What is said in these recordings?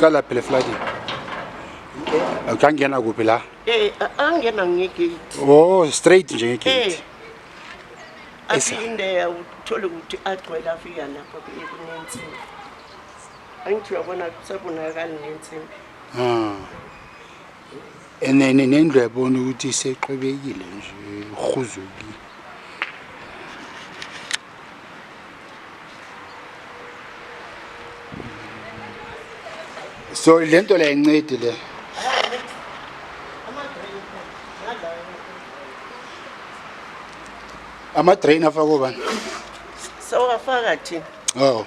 iqala phela eflatini akangena kuphi la eh angena ngegate oh straight nje ngegate eh. aphinde uthole ukuthi agcwele afika lapho kunensimbi angithi uyabona kusabonakali nensimbi ah and then nendlu yabona ukuthi isexwebekile nje uhuzukile so le nto la incedi le ama-drain afakwe bani sewafaka thina oh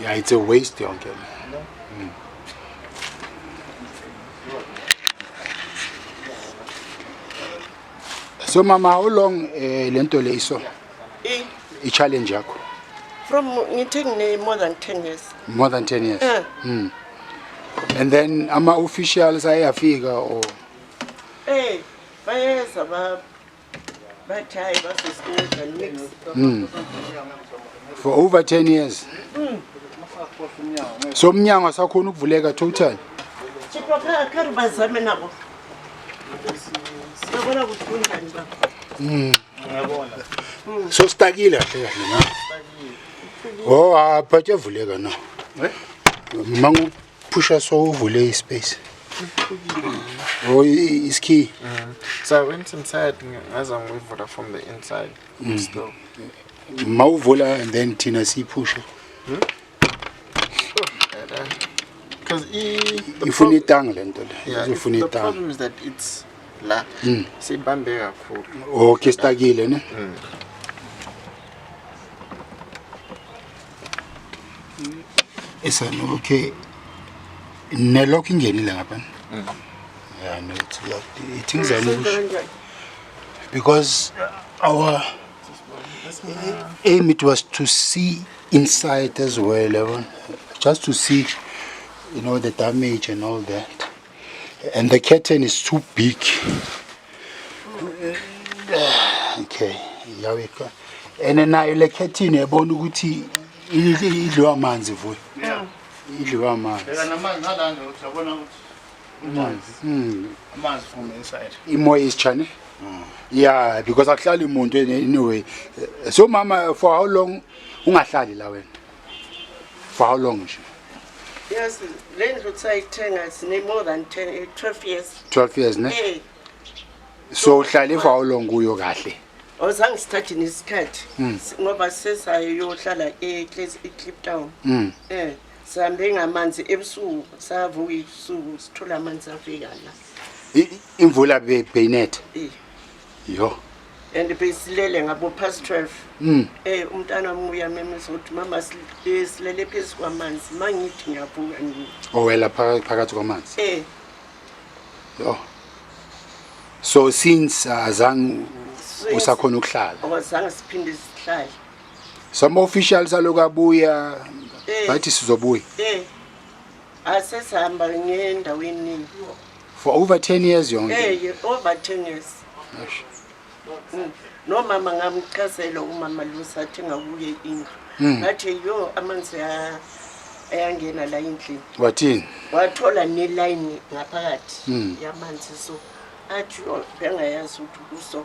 Yeah, it's a waste yonke. No. Mm. So mama, how long uh, lento le iso? I i challenge yakho from ngithe ngine more than 10 years. more than 10 years Eh. mm. and then ama officials ayafika or Eh, bayeza ba bathi hayi basesikhundla mix. mm. for over 10 years so umnyango asakhona ukuvuleka total Chipha kha kha ri bazame nabo. Yabona ukuthi kunjani baba. Ngiyabona. So stakile kahle kahle na. Oh, aphathe vuleka na. Eh? Mangu phusha so uvule ispace. Oh, is key. Mm. So I went inside as I'm with water from the inside. Mm. Still. Mawuvula and then thina siphushe. Hmm? because ifuna itanga le nto le izofuna itanga la hmm. sibambe kakhulu okay sitakile ne hmm. esana okay nelokho ingenile ngapha hmm. yeah no it's locked it is an because our aim it was to see inside as well yabona just to see you know the damage and all that and the curtain is too big okay yaweka and nayo le curtain yabona ukuthi idliwa amanzi vuyo idliwa amanzi Amanzi. Mm. Amanzi from inside. Imo is chane. Mm. Yeah, because akuhlali umuntu anyway. So mama for how long ungahlali la wena? For how long nje? Yes, le ndlu sayithenga sine more than 10 12 eh, years. 12 years ne? Hey. So uhlale for how long kuyo kahle? Ozange sithathe nesikhathi hmm. ngoba sesayohlala e Clip Town. Mm. Eh. Sihambe ngamanzi ebusuku savuka ibusuku sithola amanzi afika la. Imvula beyinetha. Yo. and besilele ngabo past 12 mm. eh umntana wami uyamemeza ukuthi mama eh, silele phezu kwamanzi mangithi ngiyabuka ngithi owela oh, phakathi kwamanzi eh yo so since uh, azange usakhona ukuhlala awazange siphinde sihlale Some officials aloku abuya Eh. bathi sizobuya Eh. Asesihamba ngendaweni. for over 10 years yonke. Eh, over 10 years. Eish. Mm. nomama ngamchazela umama lusa athi ngakuye indlu Mm. ngathi yo amanzi a- ayangena la endlini Wathini? wathola nelayini ngaphakathi Mm. yamanzi so athi oh, bengayazi ukuthi kuso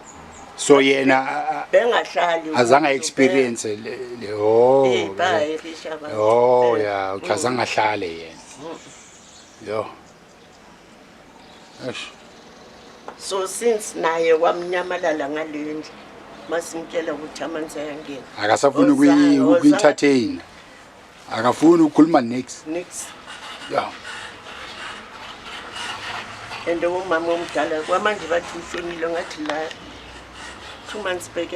so yena bengahlali azange experience le le oh eh baye bishaba oh ya eh, uchazanga mm. ahlale yena mm. yo ash so since naye wamnyamalala ngalendle masimtshela ukuthi amanzi ayangena akasafuni ukuyithatha akafuni ukukhuluma nix nix ya and umama omdala kwamanje bathi ushonile ngathi la two months back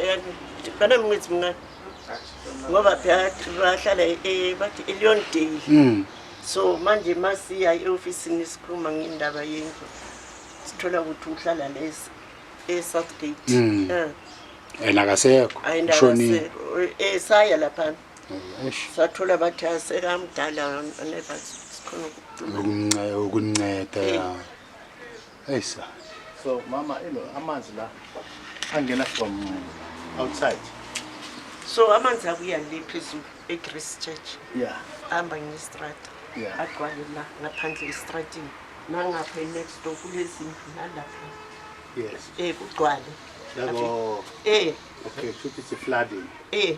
kana mngithi mina ngoba phela bahlala eh, bathi elion day mm. so manje masiya eofisini sikhuluma ngendaba yendlu sithola ukuthi uhlala lesi e-southgate mm. eh. and akasekho shonile esaya eh, lapha sathula bathi asekamdala neva sikhona ukunceda ya eyi sa so mama ilo amanzi la angena from outside so amanzi abuya le phezulu echrist church ya hamba ngestrata agcwale la ngaphandle estratini nangapha next door kulezindlu nalapha yes um kugcwale um eh. okay shuthi sifladini um eh.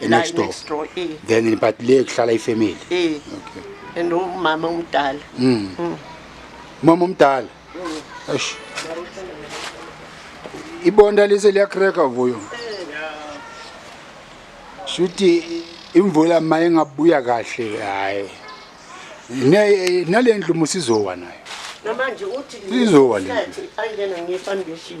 e next door next door eh then in but le kuhlala ifamily eh okay and umama omdala mm. mm. mama omdala mm. eish ibonda lise liyakreka vuyo shuthi imvula maye ngabuya kahle hayi ne nalendlu musizowa nayo namanje uthi izowa le ayingena ngefoundation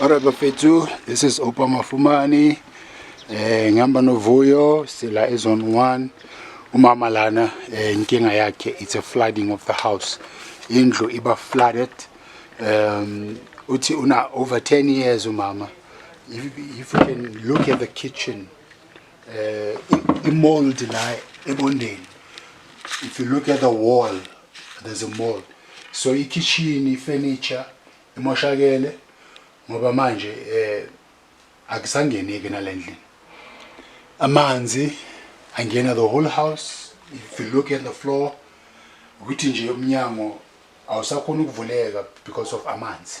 Alright bafethu, this is Opa Mafumani. Eh ngihamba novuyo sila ezone 1. Umama lana eh, inkinga yakhe it's a flooding of the house. Indlu iba flooded. Um uthi una over 10 years umama. If, if you can look at the kitchen eh i- i mold la ebondeni. If you look at the wall there's a mold so ikitchen ifurniture imoshakele ngoba manje eh akusangeneki nalendlini amanzi angena the whole house if you look at the floor ukuthi nje umnyango awusakhona ukuvuleka because of amanzi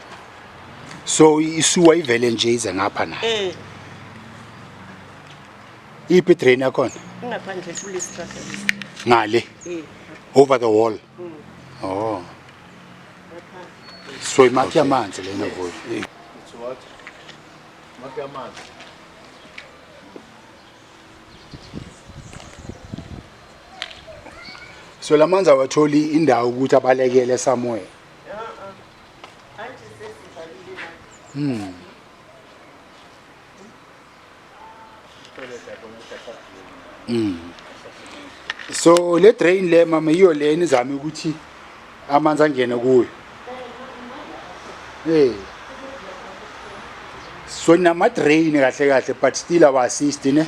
so isuwa ivele nje ize ngapha na eh iphi drain yakhona ingaphandle kule strata ngale eh over the wall mm. oh so imakhi yamanzi lena vuyo eh. it's what makhi yamanzi so lamanzi awatholi indawo ukuthi abalekele somewhere Hmm. Mm. So le drain le mama yiyo le enizame ukuthi amanzi angene kuyo. Eh. So nama drain kahle kahle but still awa assist ne.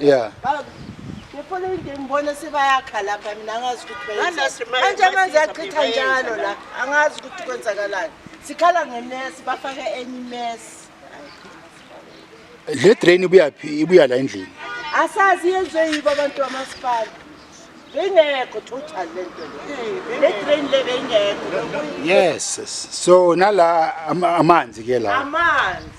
yeah ngifuna into ngibone sebayakha lapha mina angazi ukuthi manje amanzi achitha njalo la angazi ukuthi kwenzakalani sikhala ngemesi bafake enye imesi le drain ibuyaphi ibuya la endlini asazi yenzwe yibo abantu bamasipala bengekho total le nto le drain le bengekho yes so nala amanzi ke la amanzi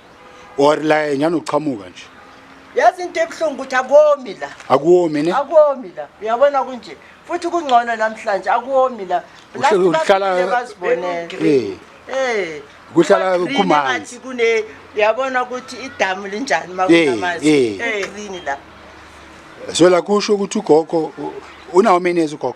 or la enyana uqhamuka nje yazi into ebuhlungu ukuthi akomi la akuwomi ne akomi la uyabona kunje futhi kungcono namhlanje akuwomi la uhlalaazibonele eh kuhlala kumanzi kune uyabona ukuthi idamu linjani makunamanzi eh, eh. eh green la so la kusho ukuthi ugogo unawo menezi ugogo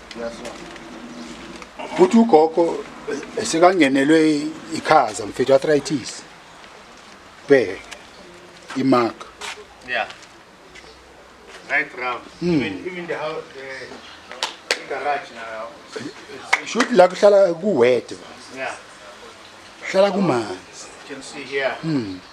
futhi ugogo sekangenelwe ikhaza mfethu arthritis bheke imark yeah right round mm. even, even the house the, the garage now shoot la kuhlala kuwede yeah hlala kumanzi can see here mm.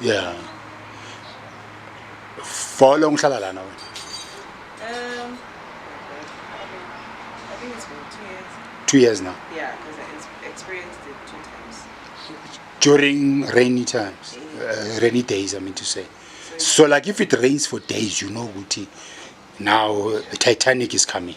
yeah for long ngihlala lana wena um i think it's been 2 years 2 years now yeah because i experienced it two times during rainy times uh, rainy days i mean to say so like if it rains for days you know ukuthi now titanic is coming